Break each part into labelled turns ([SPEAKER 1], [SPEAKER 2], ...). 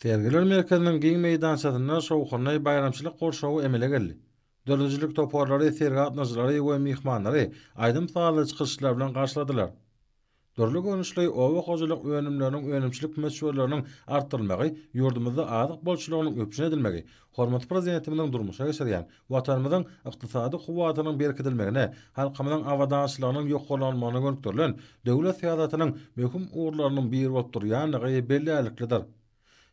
[SPEAKER 1] Sergiler merkeziniň giň meýdançasynda şowhunly baýramçylyk gurşawy emele geldi. Döredijilik toparlary sergi gatnaşyjylary we myhmanlary aýdym-sazly çykyşlar bilen garşyladylar. Dürli görnüşli oba hojalyk önümleriniň önümçilik möçberleriniň artdyrylmagy ýurdumyzda azyk bolçulygynyň üpjün edilmegi, Hormatly Prezidentimiziň durmuşa geçirýän, Watanymyzyň ykdysady kuwwatynyň berkidilmegine, halkymyzyň abadançylygynyň ýokarlanmagyna gönükdirilen döwlet syýasatynyň möhüm ugurlarynyň biri bolup durýandygy bellärliklidir.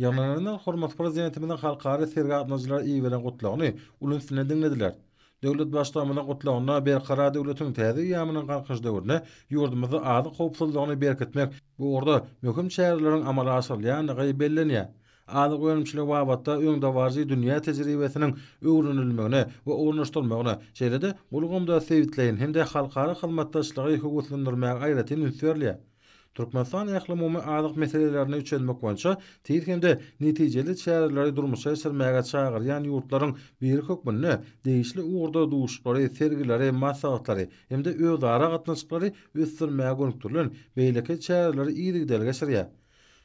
[SPEAKER 1] Ýygnananlar hormatly Prezidentimiziň halkara sergä gatnaşyjylara iberen Gutlagyny uly üns bilen diňlediler. Döwlet Baştutanymyzyň Gutlagynda Berkarar döwletiň täze eýýamynyň Galkynyş döwründe ýurdumyzda azyk howpsuzlygyny berkitmek bu ugurda möhüm çäreleriň amala aşyrylýandygy bellenýär. Azyk önümçiligi babatda öňdebaryjy dünýä tejribesiniň öwrenilmegine we ornaşdyrylmagyna, şeýle-de bu ulgamda sebitleýin hem-de halkara hyzmatdaşlygy höweslendirmäge aýratyn üns berilýär. Türkmenistan ählumumy azyk meselelerini çözmek boýunça tiz hem-de netijeli çäreleri durmuşa geçirmäge çagyrýan ýurtlaryň biri hökmünde degişli ugurda duşuşyklary, sergileri, maslahatlary hem-de özara gatnaşyklary ösdürmäge gönükdirilen beýleki çäreleri yzygiderli geçirýär.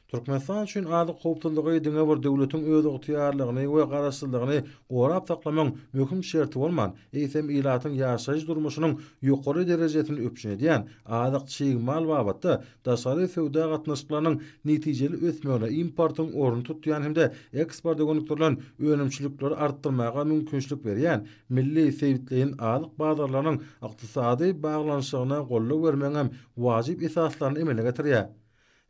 [SPEAKER 1] Türkmenistan üçin azyk howpsuzlygy diňe bir döwletiň özygtyýarlygyny we garaşsyzlygyny gorap saklamagyň möhüm şerti bolman, eýsem ilatyň ýaşaýyş-durmuşynyň ýokary derejesini üpjün edýän azyk-çig mal babatda daşary söwda gatnaşyklarynyň netijeli ösmegine, importyň ornuny tutýan hem-de eksporta gönükdirilen önümçilikleri artdyrmaga mümkinçilik berýän milli sebitleýin azyk bazarlarynyň ykdysady baglanyşygyna goldaw bermegiňem wajyp esaslaryny emele getirýär.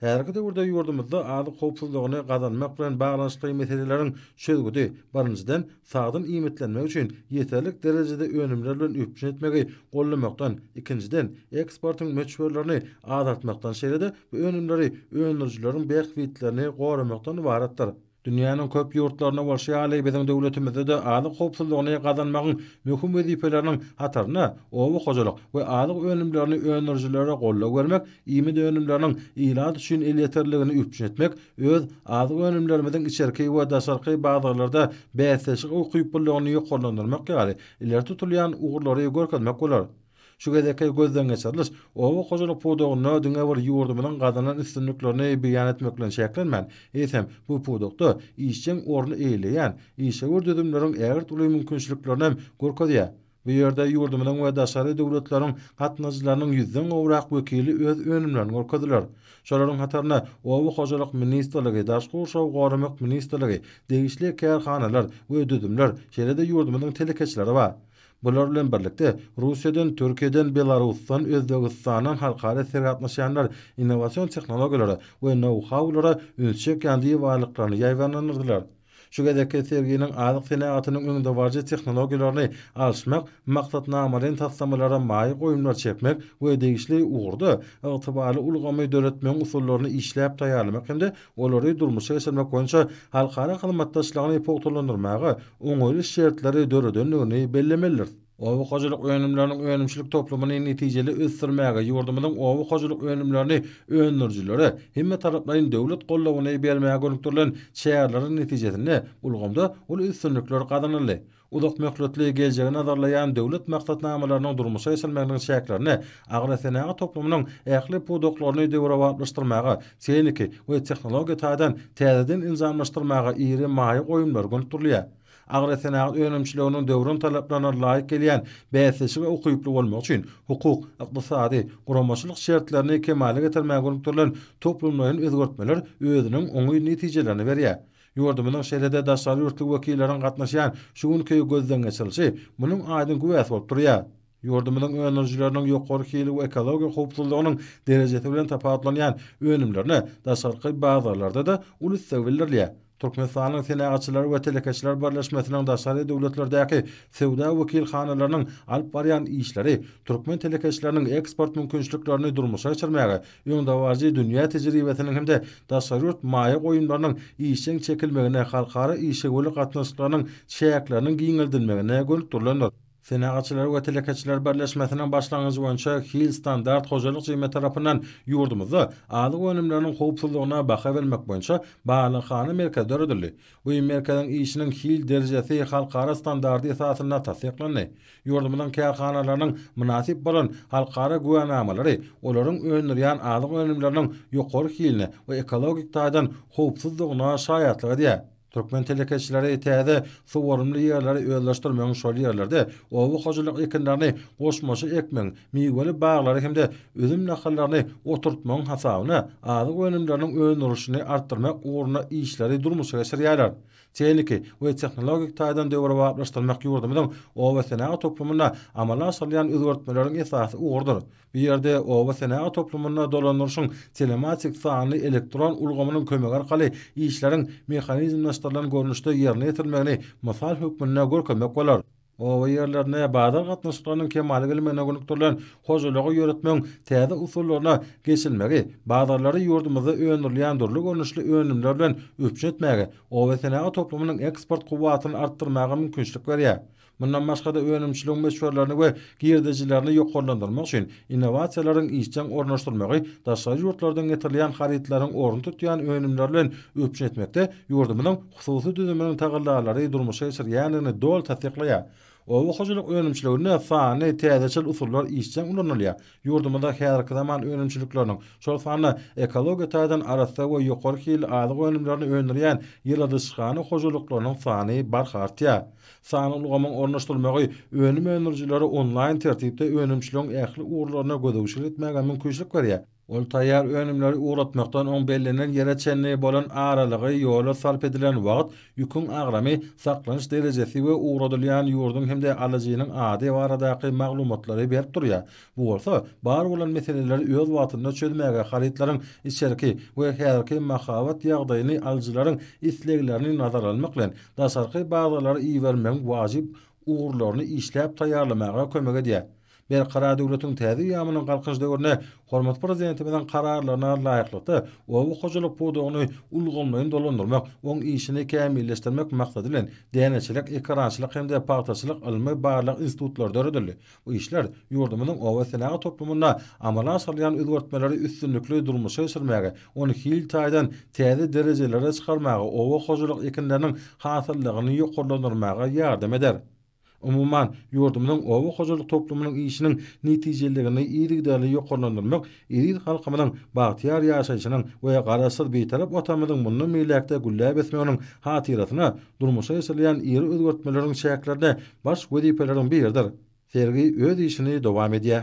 [SPEAKER 1] Häzirki döwürde ýurdumyzda azyk howpsuzlygyny gazanmak bilen baglanyşykly meseleleriň çözgüdi, birinjiden, sagdyn iýmitlenmek üçin ýeterlik derejede önümler bilen üpjün etmegi goldamakdan, ikinjiden, eksportyň möçberlerini azaltmakdan, şeýle-de bu önümleri öndürijileriň bähbitlerini goramakdan ybaratdyr. Dünýäniň köp ýurtlarynda bolşy ýaly, biziň döwletimizde-de azyk howpsuzlygyny gazanmagyň möhüm wezipeleriniň hatarynda oba hojalyk we azyk önümlerini öndürijilere goldaw bermek, iýmit önümleriniň ilat üçin elýeterliligini üpjün etmek, öz azyk önümlerimiziň içerki we daşarky bazarlarda bäsdeşik ukyplylygyny ýokarlandyrmak ýaly ileri tutulýan ugurlary görkezmek bolar. Şu gezekki gözdengeçiriliş oba hojalyk pudagynda diňe bir ýurdumyzyň gazanan üstünliklerini beýan etmek bilen çäklenmän, eýsem, bu pudakda işjeň orun eýeleýän işewür düzümleriň ägirt uly mümkinçiliklerinem görkezýär. Bu ýerde ýurdumyzyň we daşary döwletleriň gatnadyjylarynyň ýüzden gowrak wekili öz önümlerini görkezdiler. Şolaryň hatarynda Oba hojalyk ministrligi, Daşky gurşawy goramak ministrligi, degişli kärhanalar we düzümler, şeýle-de ýurdumyzyň telekeçileri bar. Bular bilen birlikde, Russiýadan, Türkiýeden, Belarusdan, Özbegistandan halkara ser gatnaşýanlar innowasion tehnologiýalara we nou-haulara üns çekýän diwarlyklaryny ýaýbaňlandyrdylar. Şu gezekki serginiň azyk senagatynyň öňdebaryjy tehnologiýalaryny alyşmak maksatnamalaýyn taslamalara maýa goýumlar çekmek we degişli ugurda ygtybarly ulgamy döretmegiň usullaryny işläp taýýarlamak hem-de olary durmuşa geçirmek boýunça halkara hyzmatdaşlygyny pugtalandyrmaga oňaýly şertleri döredendigini bellemelidiris. Oba hojalyk önümleriniň önümçilik toplumyny netijeli ösdürmäge, ýurdumyzyň oba hojalyk önümlerini öndürijilere hemmetaraplaýyn döwlet goldawyny bermäge gönükdirilen çäreleriň netijesinde ulgamda uly üstünlikler gazanyldy. uzak möhletli geljegi nazarlaýan döwlet maksatnamalarynyň durmuşa geçirilmeginiň çäklerinde agrosenagat toplumynyň ähli pudaklaryny döwrebaplaşdyrmaga, tehniki we tehnologiýa taýdan täzeden enjamlaşdyrmaga iri maýa goýumlary gönükdirilýär. Agrosenagat önümçiliginiň döwrüň talaplaryna laýyk gelýän bäsleşige ukyply bolmagy üçin hukuk, ykdysady, guramaçylyk şertlerini kemala getirmäge gönükdirilen toplumlaýyn özgertmeler özüniň oňyn netijelerini berýär. Ýurdumyzyň şeýle-de daşary ýurtly wekilleriň gatnaşýan şu günki gözden geçirilişi munuň aýdyň güwäsi bolup durýar. Ýurdumyzyň öndürijileriniň ýokary hili we ekologiýa howpsuzlygynyň derejesi bilen tapawutlanýan önümlerine daşarky bazarlarda-da uly isleg bildirilýär. Türkmenistanyň Senagatçylar we telekeçiler birleşmesiniň daşary döwletlerdäki söwda wekilhanalarynyň alyp barýan işleri türkmen telekeçileriniň eksport mümkinçiliklerini durmuşa geçirmäge öňdebaryjy dünýä tejribesiniň hem-de daşary ýurt maýa goýumlarynyň işjeň çekilmegine, halkara işewürlik gatnaşyklarynyň çäkleriniň giňeldilmegine gönükdirilendir. Senagatçylar we telekeçiler birleşmesiniň başlangyjy boýunça Hil Standart hojalyk jemgyýeti tarapyndan ýurdumyzda azyk önümleriniň howpsuzlygyna baha bermek boýunça barlaghana merkezi döredildi. Bu merkeziň işiniň hil derejesi halkara standardy esasynda tassyklandy. Ýurdumyzyň kärhanalarynyň mynasyp bolan halkara güwänamalary olaryň öndürýän azyk önümleriniň ýokary hiline we ekologik taýdan howpsuzdygyna şaýatlyk edýär. Türkmen telekeçileri täze suwarymly ýerleri özleşdirmegiň şol ýerlerde oba hojalyk ekinlerini goşmaça ekmegiň miweli baglary hem-de üzüm nahallaryny oturtmagyň hasabyna azyk önümleriniň öndürilişini artdyrmak ugrunda işleri durmuşa geçirýärler. Tehniki we tehnologik taýdan döwrebaplaşdyrmak ýurdumyzyň obasenagat toplumynda amala aşyrylýan özgertmeleriň esasy ugrudyr. Bu ýerde obasenagat toplumynda dolandyryşyň telematik sanly elektron ulgamynyň kömegi arkaly işleriň mehanizmleşdirilen görnüşde ýerine ýetirilmegini mysal hökmünde görkezmek bolar. Oba ýerlerinde bazar gatnaşyklarynyň kemala gelmegine gönükdirilen hojalygy ýöretmegiň täze usullaryna geçilmegi bazarlary ýurdumyzda öndürilýän dürli görnüşli önümler bilen üpjün etmäge, oba senagaty toplumynyň eksport kuwwatyny artdyrmaga mümkinçilik berýär. Mundan başga-da, önümçiligiň möçberlerini we girdejilerini ýokarlandyrmak üçin innowasiýalaryň işjeň ornaşdyrylmagy daşary ýurtlardan getirilýän harytlaryň ornuny tutýan önümler bilen üpjün etmekde ýurdumyzyň hususy düzüminiň tagallalary durmuşa geçirilýändigini doly tassyklaýar. Oba hojalyk önümçiliginde sanly, täzeçil usullar işjeň ulanylýar. Ýurdumyzda häzirki zaman önümçilikleriniň, şol sanda ekologiýa taýdan arassa we ýokary hilli azyk önümlerini öndürýän ýyladyşhana hojalyklarynyň sany barha artýar. Sanly ulgamyň ornaşdyrylmagy önüm öndürijilere onlaýn tertipde önümçiligiň ähli ugurlaryna gözegçilik etmäge mümkinçilik berýär. Ol taýýar önümleri ugratmakdan oň bellenen ýere çenli bolan aralygy, ýola sarp edilen wagt, ýüküň agramy, saklanyş derejesi we ugradylýan ýurduň hem-de alyjynyň ady baradaky maglumatlary berip durýar. Bu bolsa bar bolan meseleleri öz wagtynda çözmäge, harytlaryň içerki we häzirki mahabat ýagdaýyny, alyjylaryň isleglerini nazara almak bilen, daşarky bazarlara ibermegiň wajyp ugurlaryny işläp taýýarlamaga kömek edýär. Berkarar döwletiň täze eýýamynyň Galkynyş döwründe hormatly Prezidentimiziň Kararlaryna laýyklykda, oba hojalyk pudagyny ulgamlaýyn dolandyrmak, oň işini kämilleşdirmek maksady bilen, Däneçilik, ekerançylyk hem-de pagtaçylyk ylmy-barlag institutlary döredildi. Bu işler ýurdumyzyň obasenagat toplumynda amala aşyrylýan özgertmeleri üstünlikli durmuşa geçirmäge, ony hil taýdan täze derejelere çykarmaga, oba hojalyk ekinleriniň hasyllygyny ýokarlandyrmaga ýardam eder. Umuman, ýurdumyzyň oba hojalyk toplumynyň işiniň netijeliligini yzygiderli ýokarlandyrmak eziz halkymyzyň bagtyýar ýaşaýşynyň we Garaşsyz Bitarap Watanymyzyň mundan beýläk-de gülläp ösmeginiň hatyrasyna durmuşa geçirilýän iri özgertmeleriň çäklerinde baş wezipeleriň biridir. Sergi öz işini dowam edýär.